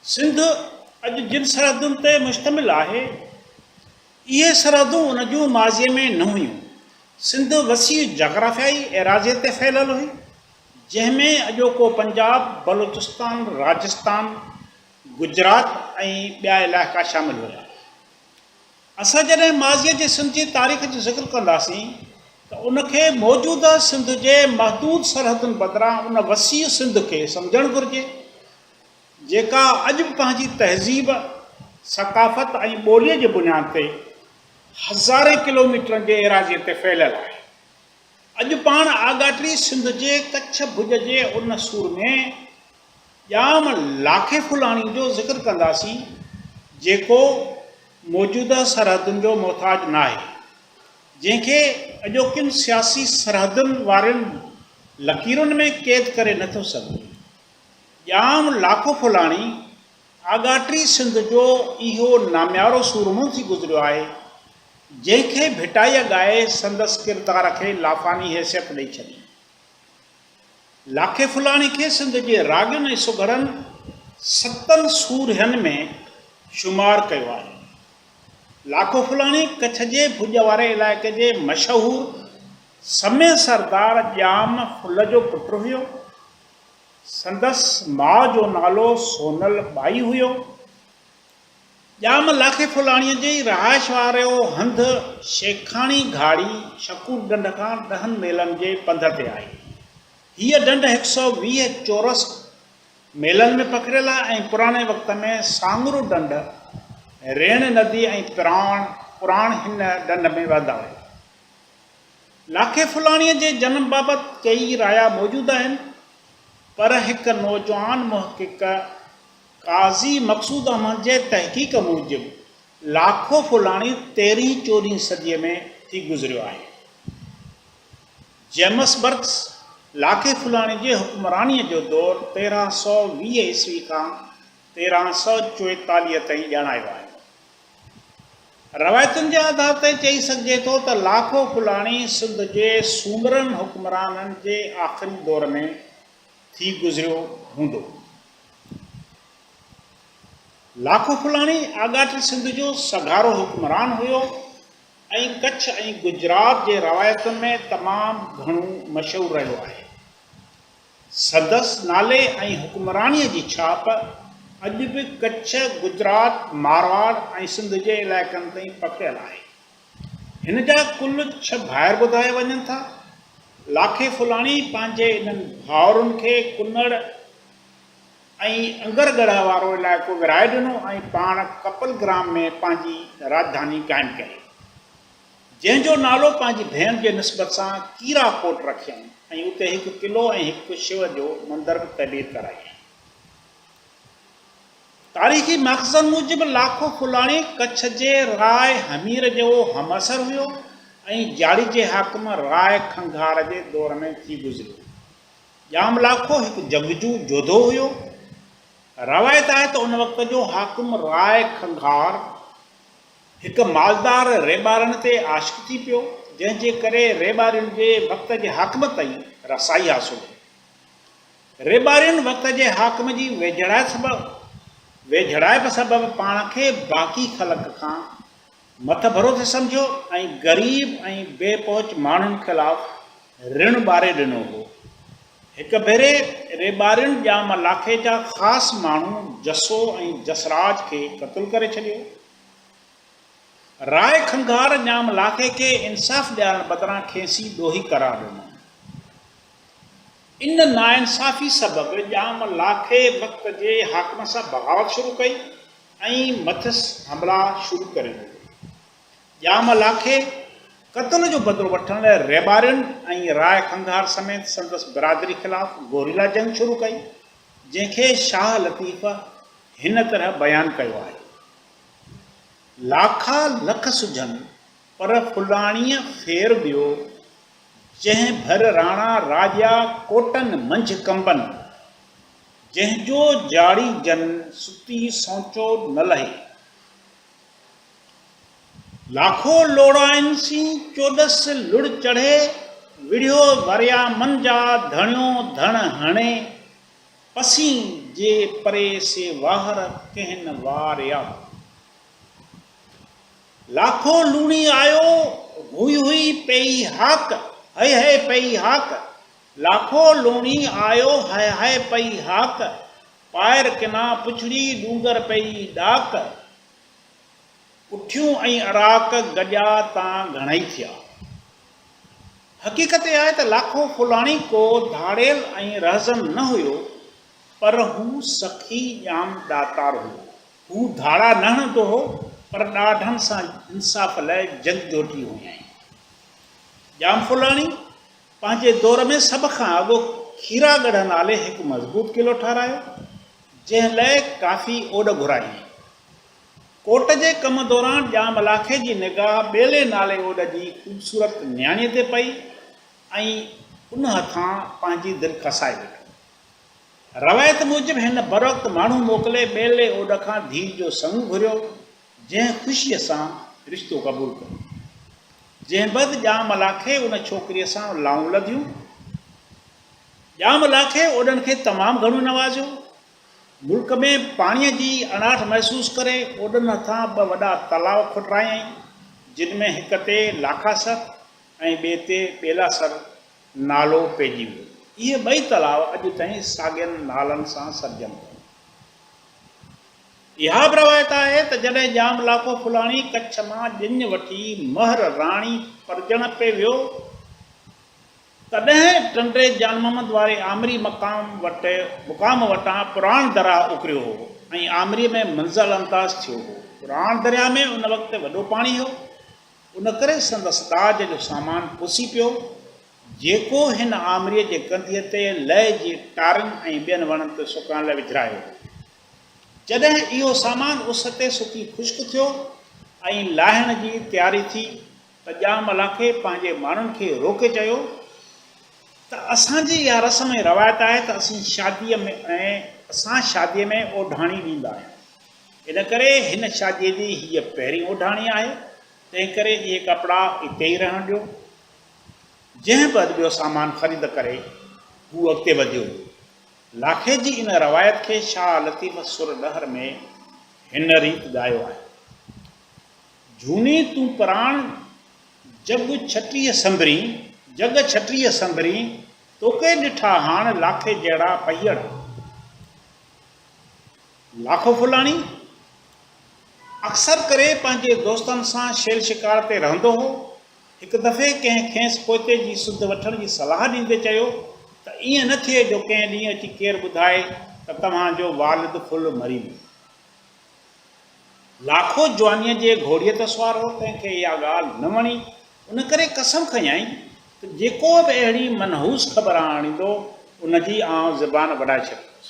سنڌ اڄ جن سرحدن تي مشتمل آهي، اهي سرحدون ان جون ماضيء ۾ نه هيون. سنڌ وسيع جاگرافيائي ايراضيء تي ڦهليل هئي، جنهن ۾ اڄوڪو پنجاب، بلوچستان، راجستان، گجرات ۽ ٻيا علائقا شامل هيا. اسان جڏهن ماضيء جي سنڌ جي تاريخ جو ذڪر ڪنداسين ته ان کي موجوده سنڌ جي محدود سرحدن بدران ان وسيع سنڌ کي سمجهڻ گهرجي، جيڪا اڄ به پنهنجي تهذيب، ثقافت ۽ ٻوليء جي بنياد تي هزارين ڪلوميٽرن جي ايراضيء تي ڦهليل آهي. اڄ پاڻ آڳاٽڙي سنڌ جي ڪڇ ڀڄ جي ان سور ۾، ڄام لاکي ڦلاڻي جو ذڪر ڪنداسين، جيڪو موجوده سرحدن جو محتاج ناهي، جنهن کي اڄوڪين سياسي سرحدن وارين لڪيرن ۾ قيد ڪري نه ٿو سگهجي. ڄام لاکو ڦلاڻي آڳاٽي سنڌ جو اهو ناميارو سورمو ٿي گذريو آهي، جنهن کي ڀٽائيء ڳائي سندس ڪردار کي لافاني حيثيت ڏئي ڇڏي. لاکي ڦلاڻي کي سنڌ جي راڳين ۽ سگهڙن ستن سورهين ۾ شمار ڪيو آهي. لاکو ڦلاڻي ڪڇ جي ڀڄ واري علائقي جي مشهور سمي سردار ڄام ڦل جو پٽ هيو. سندس ماء جو نالو سونل ٻائي هيو. ڄام لاکي ڦلاڻيء جي ئي رهائش وارو هنڌ شيخاڻي گهاڙي شڪور ڍنڍ کان ڏهن ميلن جي پنڌ تي آهي. هيء ڍنڍ هڪ سؤ ويهه چورس ميلن ۾ پکڙيل آهي ۽ پراڻي وقت ۾ ساڱرو ڍنڍ، ريڻ ندي ۽ پراڻ پراڻ هن ڍنڍ ۾ وهندا هيا. لاکي ڦلاڻيء جي جنم بابت ڪيئي رايا موجود آهن، پر هڪ نوجوان محقق، قاضي مقصود احمد جي تحقيق موجب لاکو ڦولاڻي تيرهين چوڏهين صديء ۾ ٿي گذريو آهي. جيمس برڪس لاکي ڦولاڻي جي حڪمرانيء جو دور تيرهن سؤ ويهه عيسوي کان تيرهن سؤ چوئيتاليهه تائين ڄاڻايو آهي. روايتن جي آڌار تي چئي سگهجي ٿو ته لاکو ڦولاڻي سنڌ جي سومرن حڪمرانن جي آخري دور ۾ ٿي گذريو هوندو. لاکو ڦلاڻي آڳاٽي سنڌ جو سگهارو حڪمران هيو ۽ ڪڇ ۽ گجرات جي روايتن ۾ تمام گهڻو مشهور رهيو آهي. سندس نالي ۽ حڪمرانيء جي ڇاپ اڄ به ڪڇ، گجرات، مارواڙ ۽ سنڌ جي علائقن تائين پکڙيل آهي. هن جا ڪل ڇهه ڀائر ٻڌايا وڃن ٿا. لاکي ڦلاڻي پنهنجي انهن ڀائرن کي ڪنڙ ۽ انگر ڳڙهه وارو علائقو ورهائي ڏنو ۽ پاڻ ڪپل گرام ۾ پنهنجي راڄڌاني قائم ڪيائين، جنهن جو نالو پنهنجي ڀيڻ جي نسبت سان ڪيرا ڪوٽ رکيائين ۽ اتي هڪ قلعو ۽ هڪ شو جو مندر به تعمير ڪرايائين. تاريخي ماخذن موجب لاکو ڦولاڻي ڪڇ جي راء همير جو همعصر هيو ۽ جاڙي جي حاڪم راء کنگهار جي دور ۾ ٿي گذريو. ڄام لاکو هڪ جنگجو جوڌو هيو. روايت آهي ته ان وقت جو حاڪم راء کنگهار هڪ مالدار ريٻارڻ تي عاشق ٿي پيو، جنهن جي ڪري ريٻارين جي وقت جي حاڪم تائين رسائي حاصل هئي. ريٻارين وقت جي حاڪم جي ويجهڙائپ سبب پاڻ کي باقي خلق کان مٿڀرو ٿي سمجهيو ۽ غريب ۽ بي پهچ ماڻهن خلاف رڻ ٻاري ڏنو هو. هڪ ڀيري ريٻارين ڄام لاکي جا خاص ماڻهو جسو ۽ جسراج کي قتل ڪري ڇڏيو. راء کنگهار ڄام لاکي کي انصاف ڏيارڻ بدران کيسين ڏوهي قرار ڏنو. ان ناانصافي سبب ڄام لاکي وقت جي حاڪمن سان بغاوت شروع ڪئي ۽ مٿس حملا شروع ڪري ڏنا. ڄام لاکي قتل جو بدلو وٺڻ لاء ريٻارين ۽ راء کنگهار سميت سندس برادري خلاف گوريلا جنگ شروع ڪئي، جنهن کي شاهه لطيف هن طرح بيان ڪيو آهي، لاکا لک سجهن پر ڦلاڻيء ڦير ٻيو، جنهن ڀر راڻا راڄا ڪوٽن منجهه ڪنبن، جنهن جو جاڙي جن ستي سونچو نه لهي. لاکو لوڙائن سين چوڏس لڙ چڙهي، وڙهيو وريامن جا ڌڻيو ڌڻ هڻي، پسين جي پري سي واهر ڪهن واريا. لاکو لوڻي آيو ڀوئي هئي پيئي هاڪ، هئي هئي پيئي هاڪ. لاکو لوڻي آيو هئي هئي پيئي هاڪ، پائر ڪنا پڇڙي ڏونگر پيئي ڏاڪ. اٺيون ۽ اراڪ گڏيا تان گهڻئي ٿيا. حقيقت اها آهي ته لاکو ڦلاڻي ڪو ڌاڙيل ۽ رهزن نه هيو، پر هو سخي ڄام ڏاتار هيو. هو ڌاڙا نه هڻندو هو، پر ڏاڍن سان انصاف لاء جنگجوٽي هيائين. ڄامفلاڻي پنهنجي دور ۾ سڀ کان اڳ کيرا ڳڙهه نالي هڪ مضبوط قلعو ٺهرايو، جنهن لاء ڪافي اوڏ گهرايائين. ڪوٽ جي ڪم دوران ڄام لاکي جي نگاهه ٻيلي نالي اوڏ جي خوبصورت نياڻيء تي پئي ۽ ان هٿان پنهنجي دل کسائي ويٺو. روايت موجب هن بروقت ماڻهو موڪلي ٻيلي اوڏ کان ڌيء جو سڱ گهريو، جنهن خوشيء سان رشتو قبول ڪيو. جنهن بعد ڄام لاکي ان ڇوڪريء سان لائون لڌيون. ڄام لاکي اوڏن کي تمام گهڻو نوازيو. ملڪ ۾ پاڻيء جي اڻاٺ محسوس ڪري اوڏن هٿان ٻه وڏا تلاء کوٽرايائين، جن ۾ هڪ تي لاکاسر ۽ ٻئي تي ٻيلاسر نالو پئجي ويو. اهي ٻئي تلاء اڄ تائين ساڳين نالن سان سڏجن پيا. اها به روايت آهي ته جڏهن ڄام لاکو ڦلاڻي ڪڇ مان ڄڃ وٺي مهر راڻي پرڄڻ پئي ويو، تڏهن ٽنڊي جان محمد واري آمري مقام وٽ مقام وٽان پراڻ دراهه اڪريو هو ۽ آمري ۾ منزل انداز ٿيو هو. پراڻ درياهه ۾ ان وقت وڏو پاڻي هو. ان ڪري سندس ڏاج جو سامان پسي پيو، جيڪو هن آمريء جي ڪنڌيء تي لئي جي ٽارن ۽ ٻين وڻن تي سڪڻ لاء وجهرايو هو. جڏهن اهو سامان اس تي سڪي خشڪ ٿيو ۽ لاهڻ جي تياري ٿي ته ڄام لاکي پنهنجي ماڻهن کي روڪي چيو ته اسان جي اها رسم ۽ روايت آهي ته اسين شاديء ۾ ۽ اسان شاديء ۾ اوڍاڻي ڏيندا آهيون. ان ڪري هن شاديء جي هيء پهرين اوڍاڻي آهي، تنهنڪري اهي ڪپڙا اتي ئي رهڻ ڏيو. جنهن به هنڌ ٻيو سامان خريد ڪري، هو اڳتي وڌيو. لاکي جي ان روايت کي شاهه لطيف سر ڏهر ۾ هن ريت ڳايو آهي. جهوني تون پراڻ جڳ ڇٽيء سنڀرين، جڳ ڇٽيء سنڀرين، توکي ڏٺا هاڻ لاکي جهڙا پيئڙ. لاکو ڦلاڻي اڪثر ڪري پنهنجي دوستن سان شيل شڪار تي رهندو هو. هڪ دفعي ڪنهن کيس پوئتي جي سڌ وٺڻ جي صلاح ڏيندي چيو ته ائين نه ٿئي جو ڪنهن ڏينهن اچي ڪير ٻڌائي ته توهان جو والد ڦل مري ويو. لاکو جوانيء جي گهوڙيء تي سوار هو، تنهن کي اها ڳالهه نه وڻي، ان ڪري قسم کنيائين ته جيڪو به اهڙي منحوس خبر آڻيندو، ان جي آئون زبان وڍائي ڇڏيندس.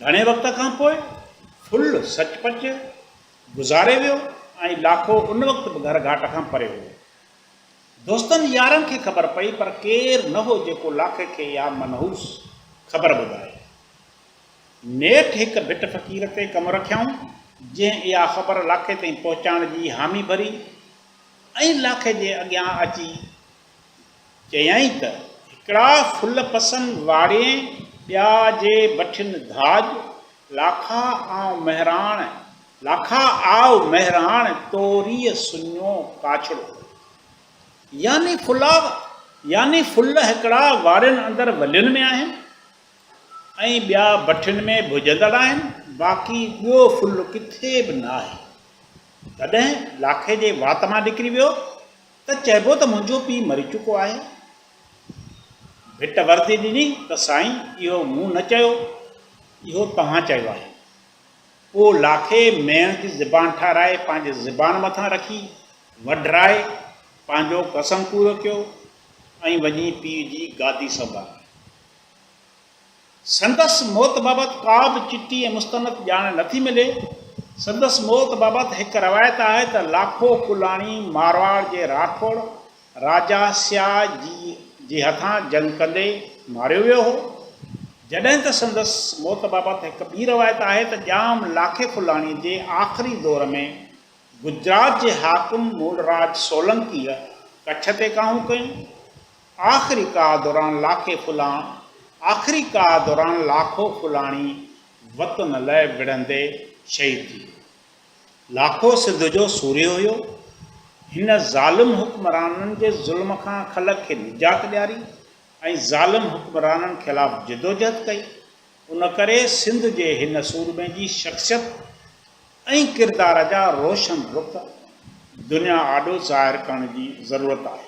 گهڻي وقت کان پوء ڦل سچ پچ گذاري ويو ۽ لاکو ان وقت به گهر گهاٽ کان پري هو. دوستن يارن کي خبر پئي پر ڪير نه هو جيڪو لاکي کي اها منحوس خبر ٻڌائي. نيٺ هڪ ڀٽ فقير تي ڪم رکيائون جنهن اها خبر لاکي تائين پهچائڻ جي حامي ڀري ۽ لاکي جي اڳيان اچي چيائين ته هڪڙا ڦل پسن واڙين، ٻيا جي بٺين ڌاڄ، لاکا آئو مهراڻ، لاکا آئو مهراڻ توريء سڃو ڪاڇڙو. يعني ڦلا يعني ڦل هڪڙا واڙين اندر ولين ۾ آهن ۽ ٻيا بٺين ۾ ڀڄندڙ آهن، باقي ٻيو ڦل ڪٿي به ناهي. تڏهن لاکي جي وات مان نڪري ويو ته چئبو ته منهنجو پيء مري چڪو آهي. ڀٽ وردي ڏني ته سائين اهو مون نه چيو، اهو توهان چيو آهي. پوء لاکي ميڻ جي زبان ٺارائي پنهنجي زبان مٿان رکي وڍرائي پنهنجو قسم پورو ڪيو ۽ وڃي پيء جي گادي سنڀالي. سندس موت بابت ڪا به چٽي ۽ مستند ڄاڻ نه ٿي ملي. سندس موت بابت هڪ روايت آهي ته لاکو ڪلاڻي مارواڙ جي راٺوڙ راجا سياء جي هٿان جنگ ڪندي ماريو ويو هو. جڏهن ته سندس موت بابت هڪ ٻي روايت آهي ته ڄام لاکي ڪلاڻي جي آخري دور ۾ گجرات جي حاڪم مولراج سولنڪيء ڪڇ تي ڪاهون ڪيون آخري ڪاهه دوران لاکي ڦلان آخري ڪاهه دوران لاکو ڦلاڻي وطن لئه وڙهندي شهيد ٿي ويو. لاکو سنڌ جو سورهيه هيو. هن ظالم حڪمرانن جي ظلم کان خلق کي نجات ڏياري ۽ ظالم حڪمرانن خلاف جدوجهد ڪئي. ان ڪري سنڌ جي هن سورمي جي شخصيت ۽ ڪردار جا روشن رخ دنيا آڏو ظاهر ڪرڻ جي ضرورت آهي.